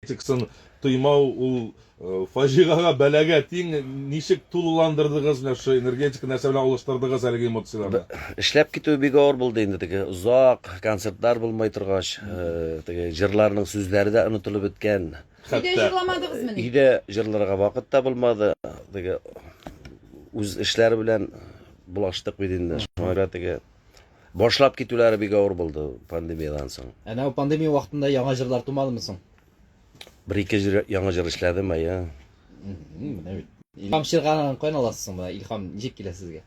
Тик сын тоймау ул фаҗигага, бәлагә тиң. Ничек тулыландырдыгыз менә шушы энергетика, нәрсә белән алыштырдыгыз әлеге эмоцияләрне? Эшләп китүе бик авыр булды инде, теге озак концертлар булмый торгач, теге җырларның сүзләре дә онытылып беткән. Өйдә җырламадыгызмы ни? Өйдә җырларга вакыт та булмады, теге үз эшләре белән булаштык бит инде, шуңа күрә теге. Башлап китүләре бик авыр булды пандемиядән соң. Әнә ул пандемия вакытында яңа җырлар тумадымы соң? Бер-ике җыр, яңа җыр эшләдем, әйе. Мм, менә бит. Илһам Ширганадан каян аласыз соң моны? Илһам ничек килә сезгә?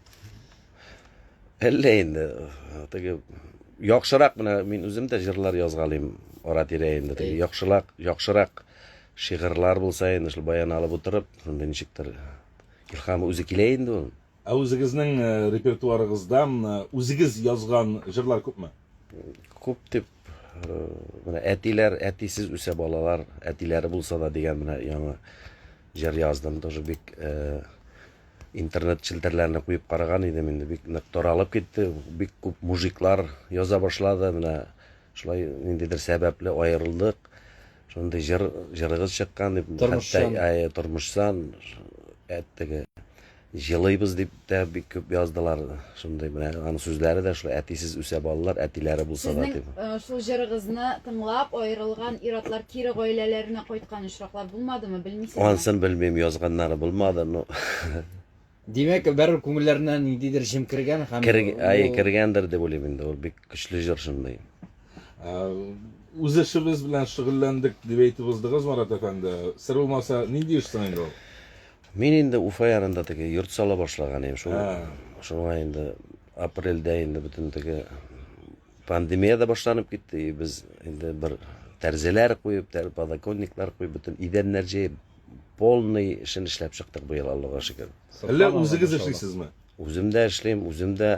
Әллә инде, теге яхшырак менә мин үзем дә җырлар язгалыйм ара-тирә инде. Теге яхшылак, яхшырак шигырьләр булса инде, шул баян алып утырып, шундый ничектер илһам үзе килә инде ул. Ә үзегезнең репертуарыгызда үзегез язган җырлар күпме? Күп дип, менә әтиләр, әтисез үсә балалар, әтиләре булса да дигән менә яңа җыр яздым. Тоже бик интернет челтәрләренә куеп караган идем инде бик нык таралып китте бик күп мужиклар яза башлады менә шулай ниндидер сәбәпле аерылдык Шундый җыр җырыгыз чыккан дип, хәтта тормышчан теге җылыйбыз дип тә бик күп яздылар. Шундый менә аның сүзләре дә шулай әтисез үсә балалар, әтиләре булса да дип. Сезнең шул җырыгызны тыңлап аерылган ир-атлар кире гаиләләренә кайткан очраклар булмадымы, белмисезме? Ансын белмим, язганнары булмады, но Димәк, бәрер күңелләренә ниндидер җем кергән һәм Кер, әй, ул кергәндер дип уйлыйм инде, ул бик көчле җыр шундый. Ә, үз эшебез белән шөгыльләндек дип әйтеп уздыгыз, Марат әфәнде. Сер булмаса, нинди эш соң инде ул? Мин инде Уфа янында теге йорт сала башлаган идем, шул, Ә. шуңа инде апрельдә инде бөтен теге Пандемия да башланып китте, и без инде бер тәрзеләр куеп, тәр подоконниклар куеп, бөтен идәннәр җыеп, полный эшен эшләп чыктык быел, Аллага шөкер. Әллә үзегез эшлисезме? Үзем дә эшлим, үзем дә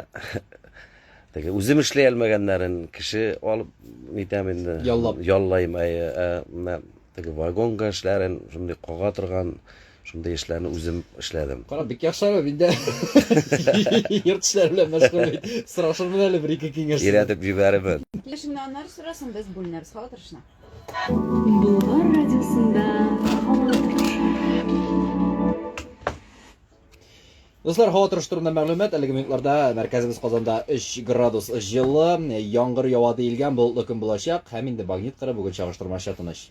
теге үзем эшли алмәгәннәрен кеше алып нитәм инде. Яллап. Яллайм, әйе. Ә менә теге вагонга эшләрен, шундый кага торган Шундый эшләрне үзем эшләдем. Кара, бик яхшы әле, мин дә йорт эшләре белән мәшгуль бит. Сорашырмын әле бер-ике киңәш. Өйрәтеп җибәрермен. Килешемне аннары сорасын, без бүленербез, һава торышына. Болгар радиосында һава торышы. Дуслар, һава торышы турында мәгълүмат. Әлеге минутларда мәркәзебез Казанда 3 градус җылы, яңгыр ява диелгән, болытлы көн булачак һәм инде магнит кыры бүген чагыштырмача тыныч.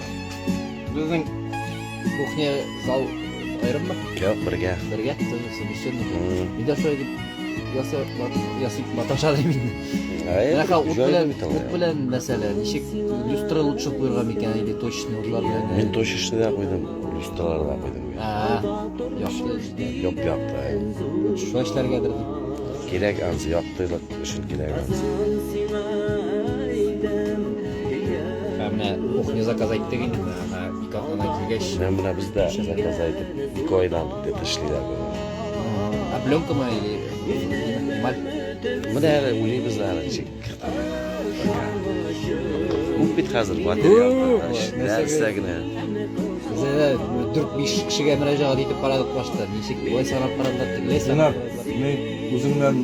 Безнең кухня зал аерыммы? Юк, бергә. Бергә, совмещенный. Мин дә шулай дип ясап маташа дим инде. Бәхә ут белән, ут белән мәсәлә, ничек люстра лучше куйырга микән, или точечный утлар белән? Мин точечный да куйдым, люстралар да куйдым. Якты. Юк, якты. Шулай эшләргәдер. Кирәк ансы яктылык. Өчен кирәк. Ә менә кухня заказ әйттек инде, менә ике атнада килгәч. Менә менә бездә заказ әйтеп, ике айдан дип эшлиләр бу. Ә пленка ма или эмаль? Менә әле уйлыйбыз әле ничек. Күп бит хәзер материал. Нәрсә генә. Бездә 4-5 кешегә мөрәҗәгать итеп карадык башта. Ничек болай санап карадылар, тегеләй санап. Үзеңнән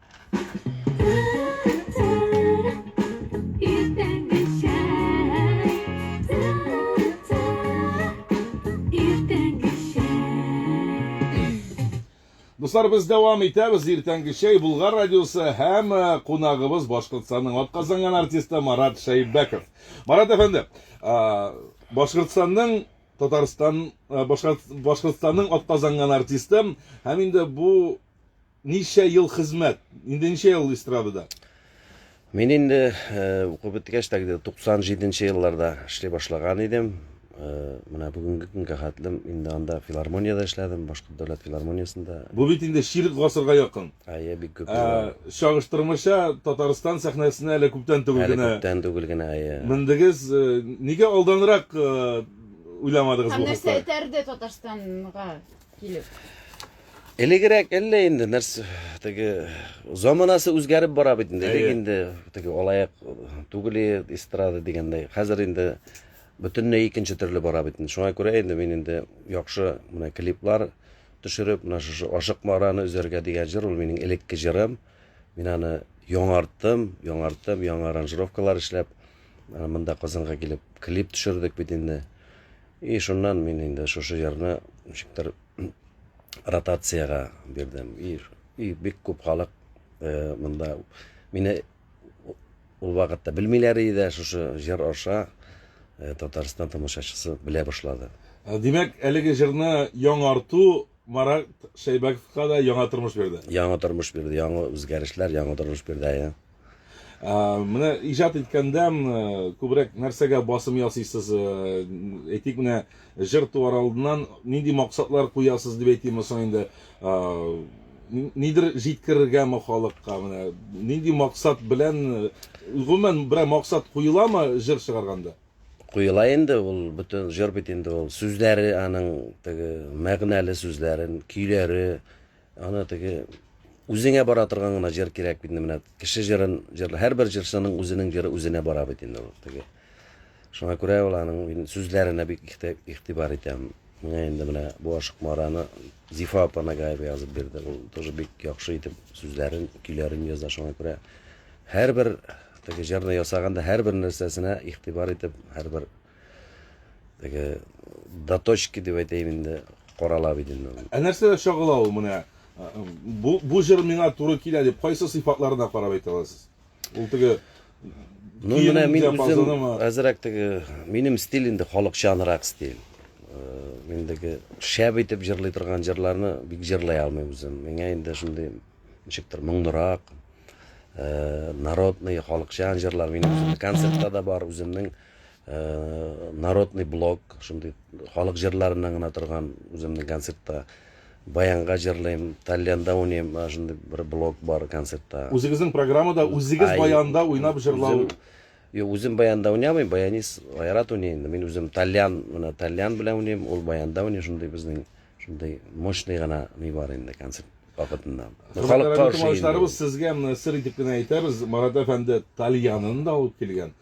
Дуслар, без дәвам итәбез. Иртәнге чәй Булгар радиосы һәм э, кунагыбыз Башкортстанның атказанган артисты Марат Шәйбәков. Марат әфәнде, Башкортстанның Татарстан Башкортстанның атказанган артисты һәм инде бу Ничә ел хезмәт? Инде ничә ел эстрадада? Мин инде укып беткәч тә, 97 нче елларда эшли башлаган идем. Менә бүгенге көнгә хәтлем инде анда филармониядә эшләдем, Башкорт дәүләт филармониясендә. Бу бит инде чирек гасырга якын. Әйе, бик күп. Чагыштырмача Татарстан сәхнәсенә әле күптән түгел генә. Әле күптән түгел генә, әйе. Мендегез. Нигә алданрак уйламадыгыз бу хакта? Һәм нәрсә этәрде Татарстанга? килеп? Элегрәк әллә инде нәрсә теге заманасы үзгәреп бара бит инде. Элек инде теге алаяк түгел эстрада дигәндәй. Хәзер инде бөтенләй икенче төрле бара бит инде. Шуңа күрә инде мин инде яхшы менә клиплар төшереп, менә шушы Ашык Мараны үзәргә дигән җыр ул минем элекке җырым. Мин аны яңарттым, яңарттым, яңа аранжировкалар эшләп, монда Казанга килеп клип төшердек бит инде. И шуннан мин инде шушы җырны ничектер ротациягә бирдем. И, и бик күп халык э, монда мине ул вакытта белмиләр иде, шушы җыр аша э, Татарстан тамашачысы белә башлады. Э, димәк, әлеге җырны яңарту Марат Шәйбәковка да яңа тормыш бирде. Яңа тормыш бирде, яңа үзгәрешләр, яңа тормыш бирде, әйе. менә иҗат иткәндә күбрәк нәрсәгә басым ясыйсыз әйтик менә җыр туар алдыннан нинди максатлар куясыз дип әйтимме соң инде нидер җиткерергәме халыкка менә нинди максат белән гомумән берәр максат куеламы җыр чыгарганда куела инде ул бөтен җыр бит инде ул сүзләре аның теге мәгънәле сүзләрен көйләре Аны теге үзеңә бара торган гына җыр кирәк бит инде менә. Кеше җырын җырла. Һәрбер җырчының үзенең җыры үзенә бара бит инде ул теге. Шуңа күрә ул аның мин сүзләренә бик ихте- игътибар итәм. Миңа инде менә бу Ашык Мараны Зифа апа Нагаева язып бирде. Ул тоже бик яхшы итеп сүзләрен, көйләрен яза. Шуңа күрә һәрбер теге җырны ясаганда һәрбер нәрсәсенә игътибар итеп, һәрбер Теге доточки дип әйтәйем инде, карала бит инде. Ә нәрсәдә чагыла ул менә? Бу бу җыр миңа туры килә дип кайсы сыйфатларына карап әйтә аласыз? Ул теге Ну, менә мин үзем әзрәк теге минем стиль инде халыкчанрак стиль. Мин теге шәп итеп җырлый торган җырларны бик җырлый алмыйм үзем. Миңа инде шундый ничектер моңнырак, народный, халыкчан җырлар минем концертта да бар үземнең Народный блок, шундый халык җырларыннан гына торган үземнең концертта баянга җырлыйм, тальянда уйныйм, шундый бер блок бар концертта. Үзегезнең программада үзегез баянда уйнап җырлау? Юк, үзем баянда уйнамыйм, баянист Айрат уйный инде. Мин үзем тальян, менә тальян белән уйныйм, ул баянда уйный, шундый безнең шундый мощный гына ни бар инде концерт вакытында. Халыкка ошый. Товарищларыбыз сезгә сер итеп кенә әйтәбез, Марат әфәнде тальянын да алып килгән.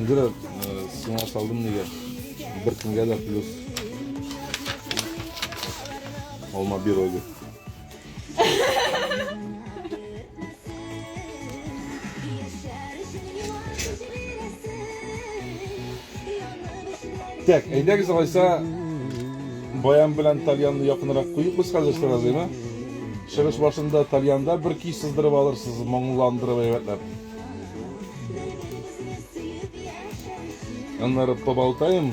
Инде э, сиңа салдым нигә? Бер көнгә дә плюс. Алма бирогы. Так, әйдәгез алайса баян белән тальянны якынрак куеп без хәзер сразу, әйме? Чыгыш башында тальянда бер ки сыздырып алырсыз, моңландырып әйбәтләп. Аннары поболтаем.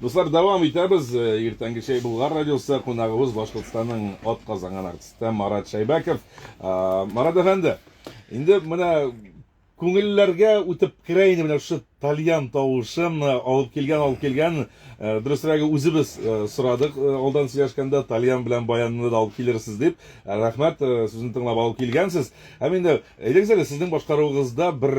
Дуслар, дәвам итәбез. Иртәнге чәй Булгар радиосы кунагыбыз Башкортстанның атказанган артисты Марат Шәйбәков. Марат әфәнде, инде менә күңелләргә үтеп керә инде менә шушы тальян тавышын э, алып килгән алып килгән э, дөресрәге үзебез э, сорадык алдан сөйләшкәндә тальян белән баянны да алып килерсез дип рәхмәт сүзен тыңлап алып килгәнсез һәм инде әйдәгез әле сезнең башкаруыгызда бер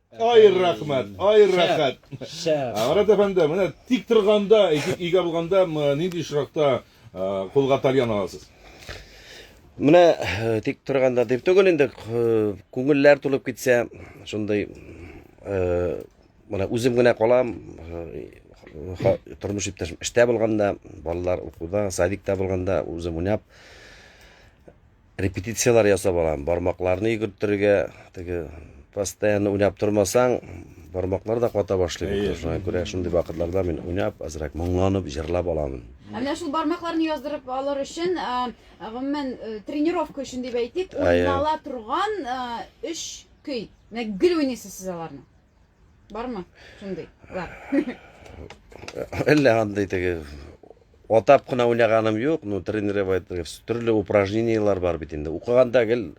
Ай рәхмәт, ай рәхәт. Марат әфәнде, менә тик торганда, өйгә булганда нинди очракта кулга тальян аласыз? Менә тик торганда дип түгел инде, күңелләр тулып китсә, шундый менә үзем генә калам, тормыш иптәшем эштә булганда, балалар укуда, садикта булганда, үзем уйнап Репетицияләр ясап алам. Бармакларны йөгерттерергә, теге постоянно уйнап тормасаң, бармаклар да ката башлый бит. Шуңа күрә шундый вакытларда мин уйнап, азрак моңланып, җырлап аламын. Ә менә шул бармакларны яздырып алыр өчен, гомумән, тренировка өчен дип әйтик, уйнала торган өч көй. Менә гел уйныйсыз сез аларны. Бармы? Шундый. Бар. Әллә андый теге атап кына уйнаганым юк, ну тренировать төрле упражненияләр бар бит инде. Укыганда гел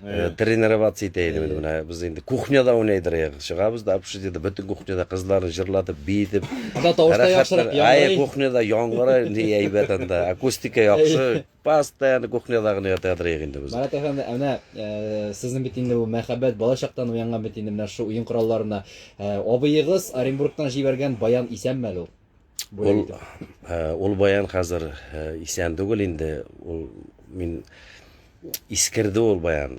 э, тренировать итә идем инде менә без инде кухняда уйныйдыр ягы. Чыгабыз да обши диде, бөтен кухняда кызларны җырлатып, биетеп. Анда тавыш та яхшырак яңгырый. Ай, кухняда яңгырый, ни әйбәт анда. Акустика яхшы. Постоянно кухняда гына ятырга теләик инде без. Марат әфәнде, ә менә сезнең бит инде бу мәхәббәт бала чактан уянган бит инде менә шушы уен коралларына. Абыегыз Оренбургтан җибәргән баян исәнме әле ул? Бүләк итеп. Ул, ул баян хәзер исән түгел инде, ул мин искерде ул баян.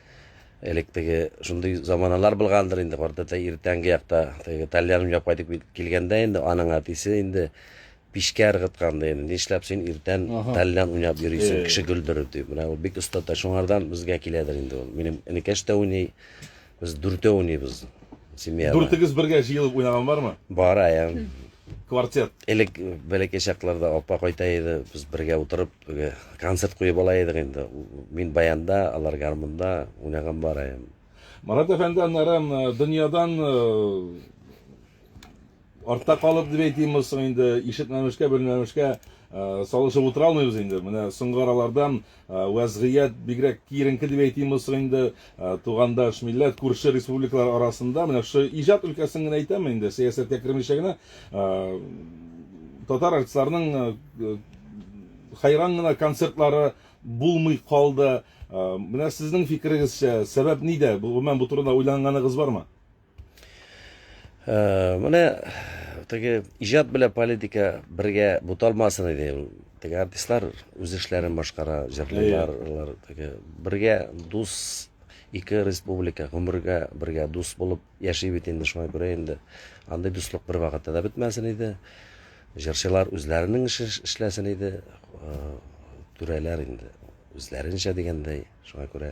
Элек теге шундый заманалар булгандыр инде, картәтәй иртәнге якта теге тальян уйнап кайтып килгәндә инде аның әтисе инде пичкә ыргыткан ди инде. Нишләп син иртән тальян уйнап йөрисең, кеше гөлдереп дип. Менә ул бик остата, шуңардан безгә киләдер инде ул. Минем энекәш тә уйный, без дүртәү уйныйбыз семьяда. Дүртегез бергә җыелып уйнаган бармы? Бар, әйе. Квартет. Элек бәләкәй чакларда апа кайта иде, без бергә утырып Теге концерт куеп ала идек инде. Мин баянда, алар гармунда уйнаган бар ем. Марат әфәнде, аннары дөньядан артта калып дип әйтимме соң инде, ишетмәмешкә, белмәмешкә салышып утыра алмыйбыз инде. Менә соңгы аралардан вәзгыять бигрәк киеренке дип әйтимме соң инде. Тугандаш, милләт, күрше республикалар арасында, менә шушы иҗат өлкәсен генә әйтәме инде, сәясәткә кермичә генә, татар артистларының хайран гына концертлары булмый калды. Менә сезнең фикерегезчә, сәбәп нидә? Гомумән бу турыда уйланганыгыз бармы? Менә теге иҗат белән политика бергә буталмасын иде. Теге артистлар үз эшләрен башкара, җырлыйлар, алар теге бергә дус ике республика гомергә бергә дус булып яши бит инде шуңа күрә инде андый дуслык бер вакытта да бетмәсен иде. Җырчылар үзләренең эшен эшләсен иде. Түрәләр инде үзләренчә дигәндәй, шуңа күрә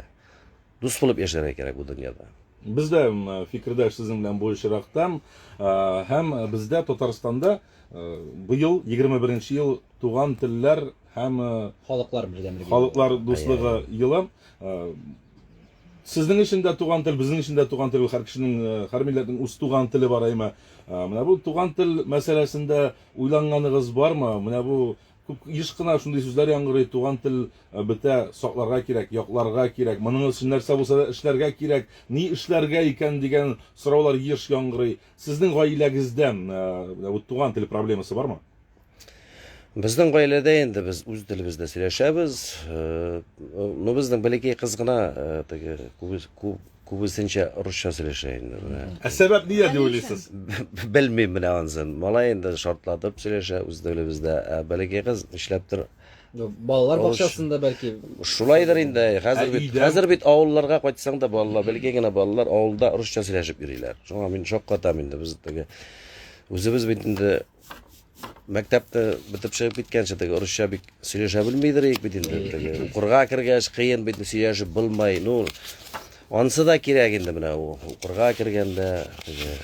Дус булып яшәргә кирәк бу дөньяда. Без дә фикердәш сезнең белән бу очракта. Һәм бездә Татарстанда быел егерме беренче ел туган телләр һәм Халыклар бердәмлеге халыклар дуслыгы елы. Сезнең өчен дә туган тел, безнең өчен дә туган тел, һәр кешенең, һәр милләтнең үз туган теле бар әйме. Менә бу туган тел мәсьәләсендә уйланганыгыз бармы? Менә бу Күп, еш кына шундый сүзләр яңгырый, туган тел бетә, сакларга кирәк, якларга кирәк, моның өчен нәрсә булса да эшләргә кирәк, ни эшләргә икән дигән сораулар еш яңгырый. Сезнең гаиләгездә менә бу туган тел проблемасы бармы? Безнең гаиләдә инде без үз телебездә сөйләшәбез. Ну, безнең бәләкәй кыз гына теге күп Күбесенчә русча сөйләшә инде менә. Ә сәбәп нидә дип уйлыйсыз? Белмим менә ансын. Малай инде шартлатып сөйләшә үз телебездә, ә бәләкәй кыз нишләптер. Балалар бакчасында бәлки. Шулайдыр инде, хәзер бит, хәзер бит авылларга кайтсаң да балалар, бәләкәй генә балалар авылда русча сөйләшеп йөриләр. Шуңа мин шаккатам инде, без теге үзебез бит инде Мәктәпте бітіп шығып кеткенше теге орысша бик сөйләшә белмейдер ек бит инде теге. Укырга кергәч кыен бит сөйләшеп булмай. Ну, ансы да кирәк инде менә ул. Укырга кергәндә теге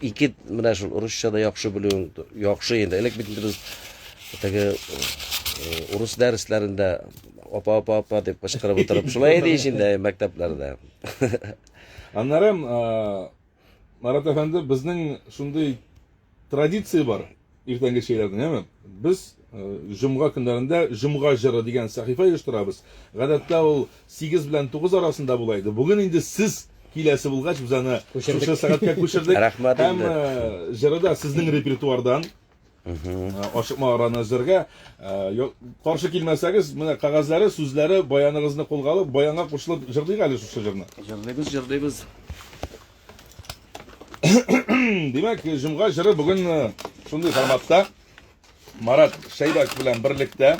ике менә шул орысча да яхшы белүең яхшы инде. Элек бит без теге урыс дәресләрендә апа апа апа дип кычкырып утырып шулай иде ич инде мәктәпләрдә. Аннары Марат әфәнде, безнең шундый традиция бар иртәнге чәйләрдән, әме. Без җомга көннәрендә җомга җыры дигән сәхифә оештырабыз. Гадәттә ул 8 белән 9 арасында була иде. Бүген инде сез киләсе булгач, без аны шушы сәгатькә күчердек. Һәм җыры да сезнең репертуардан. Ачык магараны эзләргә. Каршы килмәсәгез, менә кагазьләре, сүзләре, баяныгызны кулга алып, баянга кушылып җырлыйк әле шушы җырны. Җырлыйбыз, җырлыйбыз. Димәк, җомга җыры бүген шундый форматта. Марат Шәйбәк белән берлектә.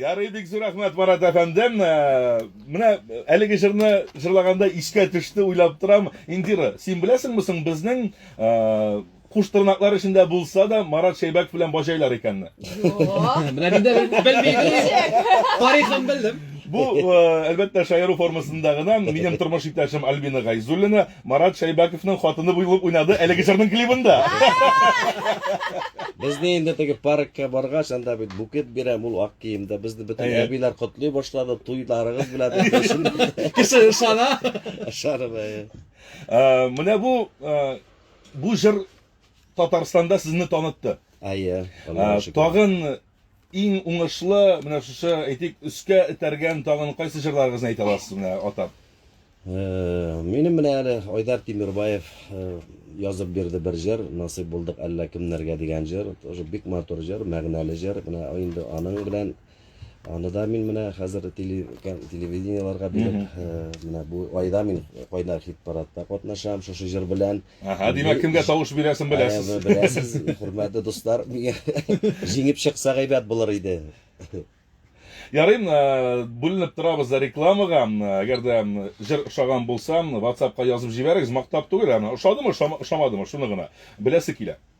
Ярый бик зур рәхмәт, Марат әфәндем. Менә әлеге җырны җырлаганда искә төште, уйлап торам. Индира, син беләсеңме соң безнең куш тырнаклар эчендә булса да Марат Шәйбәков белән баҗайлар икәнне? Юк. Менә мин дә белмим. Тарихын белдем. Бу, әлбәттә, шаяру формасында гына. Минем тормыш иптәшем Альбина Гайзуллина, Марат Шәйбәковның хатыны буйлып уйнады әлеге җырның клибында. Безне инде теге паркка баргач, анда бит букет бирәм, ул ак киемдә. Безне бөтен Әйе. әбиләр котлый башлады, туйларыгыз белән дип башында. Кеше ышана. Ышанып, әйе. Ә, Менә бу ә, бу җыр Татарстанда сезне танытты. Әйе. Ә, Аллага шөкер. Тагын Иң уңышлы, менә шушы, әйтик, өскә этәргән тагын кайсы җырларыгызны әйтә аласыз менә атап? Минем менә әле Айдар Тимербаев язып бирде бер җыр, насыйп булдык әллә кемнәргә дигән җыр. Тоже бик матур җыр, мәгънәле җыр. Менә инде аның белән аны да мин менә хәзер телевидениеларга биреп, менә бу айда мин кайнар хит-парадта катнашам шушы җыр белән. Аһа, димәк, кемгә тавыш бирәсен беләсез. Беләсез, хөрмәтле дуслар, миңа җиңеп чыкса гайбәт булыр иде. Ярый, э, бүленеп торабыз да рекламага. Әгәр дә җыр ошаган булса, WhatsAppка язып җибәрегез, мактап түгел, аны ошадымы, ошамадымы, шуны гына беләсе килә.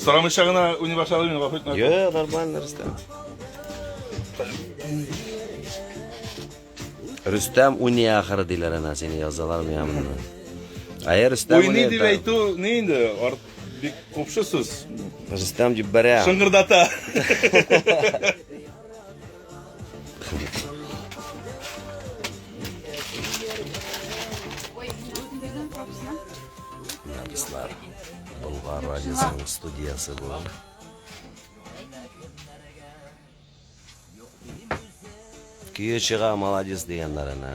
Сорамыйча гына уйный башладым мин, гафу итмәгез. Йо, нормально, Рөстәм. Рөстәм уйный ахыры диләр ана, сине язалар миңа монда. Әйе, Рөстәм уйный. Уйный дип әйтү ни инде? Арт бик купшы сүз. Рөстәм дип бәрә. Шыңгырдата. Артистлар Болгар радиосының студиясе бу. Көе чыга, молодец дигәннәренә.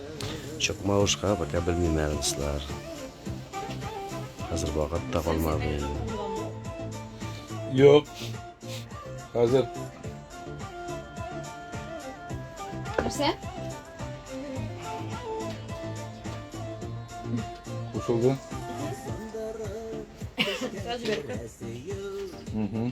Чокмалышка пока белмим әле, дуслар. Хәзер вакыт та калмады. Юк. Хәзер. Нәрсә? Кушылды. Угу.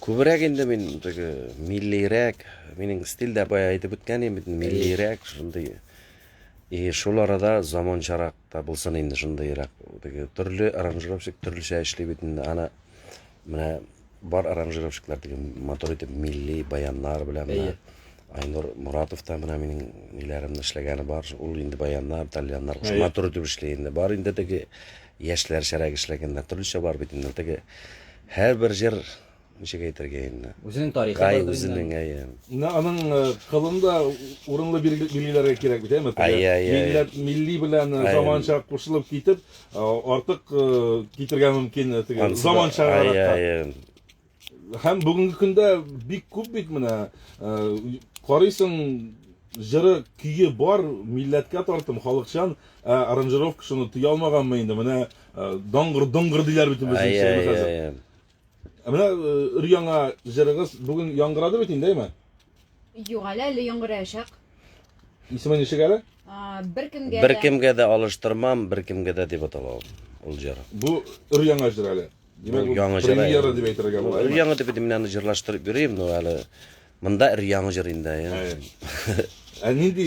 Күбрәк инде мин теге миллирәк, минем стильдә бая әйтеп үткән идем бит, миллирәк шундый. И шул арада заманчарак та булсын инде шундыйрак. Теге төрле аранжировщик төрлечә эшли бит инде. Ана менә бар аранжировщиклар теге мотор итеп милли баяннар белән менә. Айнур Муратов та менә минем ниләремне эшләгәне бар. Ул инде баяннар, итальяннар куш мотор итеп эшли инде. Бар инде теге яшьләрчәрәк эшләгәннәр төрлечә бар бит инде. Теге Һәрбер җыр, ничек әйтергә инде. Үзенең тарихы бар. Гай үзенең, әйе. Менә аның кылын да урынлы билгеләргә кирәк бит, әйеме? Әйе, әйе. Милләт, милли белән заманча кушылып китеп, артык китергә мөмкин теге заманчарак. Әйе, әйе. Һәм бүгенге көндә бик күп бит менә карыйсың, Җыры, көе бар, милләткә тартым, халыкчан, ә аранжировка шуны тыя алмаганмы инде, менә даңгыр, доңгыр диләр бит инде безнең чорда хәзер. Ә менә өр-яңа җырыгыз бүген яңгырады бит инде, әйме? Юк әле, әле яңгыраячак. Исеме ничек әле? Беркемгә дә. Беркемгә дә алыштырмам, беркемгә дә дип атала ул җыр. Бу өр-яңа җыр әле. Димәк, яңа җыр. Премьера дип әйтергә була. Яңа дип мин аны җырлаштырып йөрим, но әле монда ир яңа җыр инде. Ә нинди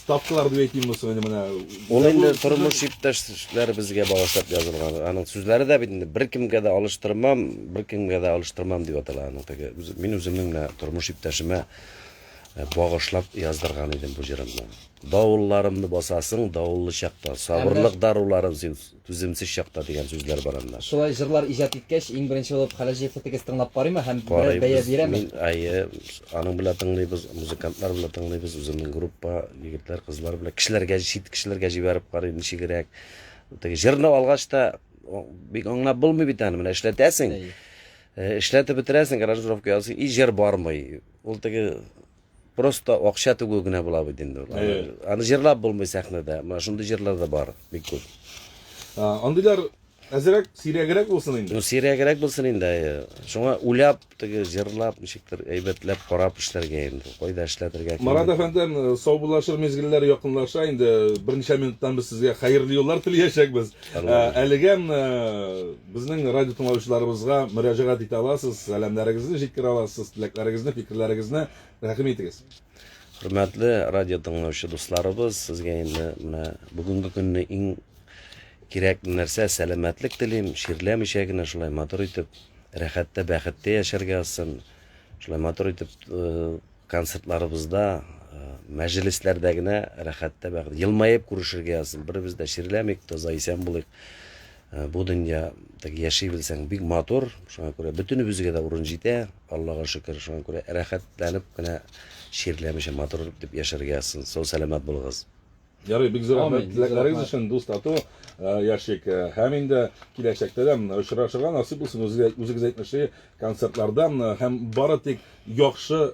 ставкалар дип әйтимме соң инде менә? Ул инде тормыш иптәшләребезгә багышлап язылган. Аның сүзләре дә бит инде беркемгә дә алыштырмам, беркемгә дә алыштырмам дип атала аның теге. Мин үземнең менә тормыш иптәшемә багышлап яздырган идем бу җырымны. Давылларымны басасың, давыллы чакта, сабырлык даруларын син Түземсез чакта дигән сүзләр бар анда. Шулай җырлар иҗат иткәч, иң беренче булып Хәләҗи Фәтегез тыңлап карыймы һәм берәр бәя бирәме? Мин, әйе, аның белән тыңлыйбыз, музыкантлар белән тыңлыйбыз, үземнең группа, егетләр, кызлар белән. Кешеләргә, чит кешеләргә җибәреп карыйм, ничегрәк. Теге җырны алгач та, бик аңлап булмый бит аны, менә эшләтәсең, эшләтеп бетерәсең, аранжировка ясыйсың, и җыр бармый. Ул теге Просто акча түгү генә була бит инде ул. Аны, Әйе. аны җырлап булмый сәхнәдә. Менә шундый җырлар да бар, бик күп. А, Андыйлар әзерәк, сирәгрәк булсын инде. Ну, сирәгрәк булсын инде. әйе. Шуңа уйлап, теге җырлап, ничектер әйбәтләп карап эшләргә инде. Кайда эшләтергә кем Марат белә. әфәндем, э, саубуллашыр мизгелләр якынлаша инде. Берничә минуттан без сезгә хәерле юллар телиячәкбез. Алла Э, разый. Әлегә м, э, Безнең радио тыңлаучыларыбызга мөрәҗәгать итә аласыз, сәламнәрегезне җиткерә аласыз, теләкләрегезне, фикерләрегезне тәкъдим итегез. Хөрмәтле радио тыңлаучы дусларыбыз, сезгә инде менә бүгенге көнне иң кирәк нәрсә сәламәтлек телим, ширләмичә генә шулай матур итеп, рәхәттә, бәхеттә яшәргә язсын. Шулай матур итеп э, концертларыбызда, э, мәҗлесләрдә генә рәхәттә, бәхет, елмаеп күрешергә язсын. Беребез дә ширләмик, таза исән булыйк. Бу дөнья так яши белсәң бик матур, шуңа күрә бөтенебезгә дә урын җитә, Аллага шөкер, шуңа күрә рәхәтләнеп кенә чирләмичә матур итеп яшәргә язсын, сау сәламәт булыгыз. Ярый, бик зур рәхмәт теләкләрегез өчен, дус тату яшик һәм инде киләчәктә дә очрашырга насыйп булсын, үзегез әйтмешли, концертларда һәм бары тик яхшы